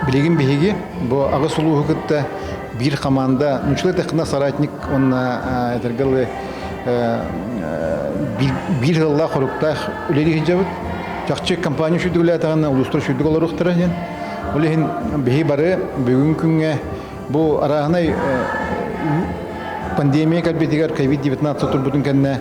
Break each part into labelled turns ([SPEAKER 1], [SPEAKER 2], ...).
[SPEAKER 1] Билигин биһиги бу аҕыс улууһу кытта биир хамаанда нучла техно соратник уонна эдэргалы биир сыллаах-хоруктаах үлэлии сылдьабыт. Чахчы компания сүрдүгүлээтэҕинэ улуустар сүрдүг олоруохтара диэн. Ол иһин биһи бары бүгүн күҥҥэ бу арааһынай пандемия кэлбитигэр COVID-19 турбутун кэннэ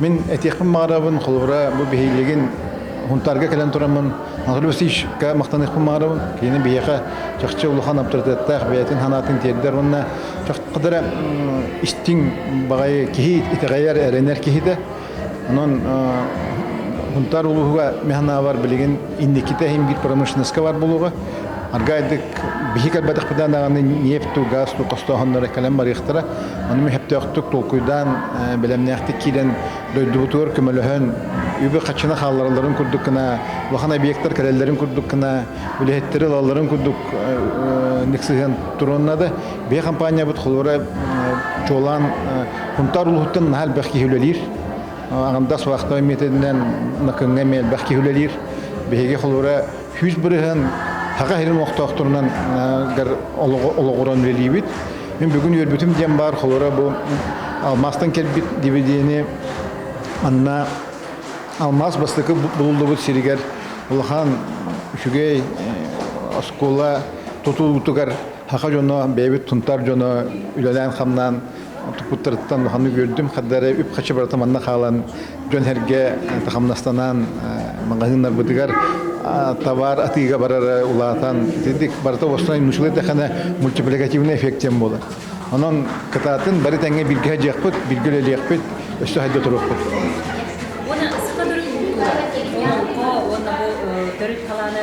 [SPEAKER 1] Мин этиэхпин баҕарабын, холобура, бу биһиилигин хунтаарга кэлэн тураммын Анатолий Васильевичка махтаныахпын баҕарабын. Кини биһиэхэ чахчы улахан аптарытыаттаах бэйэтин санаатын тиэрдэр уонна чаххадара истиҥ баҕайы киһи итэҕэйэр, эрэнэр киһитэ. Онон Хунтаар улууһуга механаабар билигин инникитэ иһимгир промышленноска бар буолуоҕа. Аргайдык биһи кэлбэтэхпитэ даҕаны нефть, газ хостооһуннара кэлэн барыахтара. Ону мөһөптөөхтүк толкуйдаан, бэлэмнээхтик киирэн дойдубутугар көмөлөһөн, үбү-хаччыны хаалларалларын курдук гына, улахан объектар кэлэллэрин курдук гына, үлэһиттэри ылалларын курдук ныхсыһан туруоннады. Биһи компаниябыт холура чуолаан Хунтаар улууһуттан наһаа элбэх киһи үлэлиир. Аҕамдас вахтовай методинэн Накыҥҥа элбэх киһи үлэлиир. Биһиги холура Күүс бырыһын Саха сирин олохтоохторунан олоҕуран үлэлиибит. Мин бүгүн үөрбүтүм диэн баар, холоро бу алмаастан кэлбит дивидени анна алмаас бастакы булуллубут сиригэр улахан үчүгэй оскуола тутуутугар саха дьоно, бэйэбит тунтар дьоно үлэлээн-хамнаан туппуттарыттан уханнык үөрдүм хардары үп-хачы барыта манна хаалан дьон-сэргэ хамнастанаан маҕаһыыннарбытыгар товар атыыга барара улаатан итинник барыта уостунай мучулай дэхэнэ мультипликативный эффект диэн буолар онон кытаатын бары тэҥҥэ билгэ дьиэхпит билгэ үлэлиэхпит өссө сайда туруохпут уонна саха төрүт култуура уонна бу төрүт халааны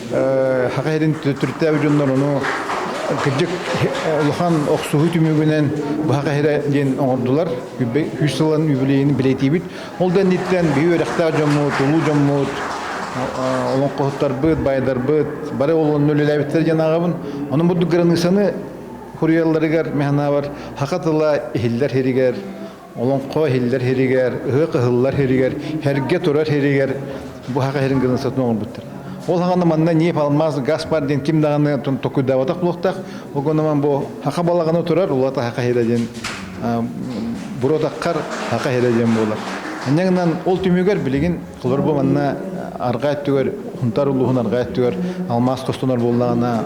[SPEAKER 1] Саха сирин түртээб дьоннор ону кырдьык улахан охсуһуу түмүгүнэн Баха Кэһирэ диэн оҥордулар. Үс сылын юбилейini билетиибит. Ол да инниттэн биһи үөрэхтээх дьоммут, улуу дьоммут, олоҥхоһуттарбыт, байдарбыт бары олонно үлэлээбиттэр диэн ааҕабын. Ону бурдук границаны хуруйалларыгар механабар хака тыла иһиллэр сиригэр олоҥхо иһиллэр сиригэр, ыһыах ыһыллар сиригэр, сэргэ турар сиригэр буһаха сирин гынан сатын оҥорбуттар. Ол хаҕана манна нип алмаз газ бар диэн ким даҕаны токуйдаабатах буолуохтаах. Огонуман бу аха балаҕаны турар улата хаха хире диэн буротаххар хаха хире диэн буолар. Анньаҥынан ол түмүгэр билигин холор бу манна арҕаа өттүгэр хунтар улууһун арҕаа өттүгэр алмаз костонор буоллаҕына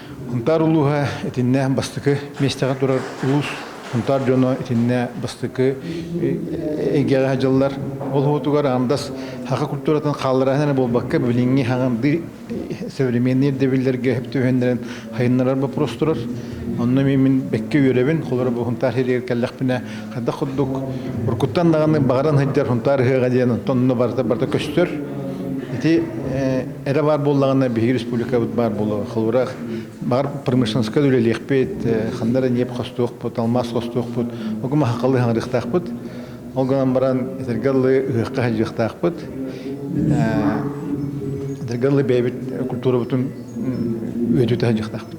[SPEAKER 1] Хунтаар улууһа итиннэ бастакы миэстэҕэ турар улуус Хунтаар дьоно итиннэ бастакы эйгэҕэ дьыллар. Ол хоһутугар аамдас хаха культуратын хаалларааһын эрэ буолбакка, билиҥҥи хаҥырдыы современный ирдэбиллэргэ төһөннөрөн хайыннарар боппуруос турар. Онно мин бэккэ үөрэбин, холоро бу Хунтаар сиригэр кэллэхпинэ Хайдах курдук уруккуттан даҕаны баҕаран сылдьар Хунтаар ыһыаҕа диэн онтон онно барыта барыта көстөр. Ити эрэ баар буоллаҕына биһиги республикабыт баар буолуо. Холура баҕар промышленскай үлэлиэхпит, ханна эрэ ньиэп хостуохпут, алмаас хостуохпут, угумахахалы хаҥырыахтаахпыт. Ол гынан баран этэргэ дылы ыһыахха сылдьыахтаахпыт. Этэргэ дылы бэйэбит культурабытын үөдүтэ сылдьыахтаахпыт.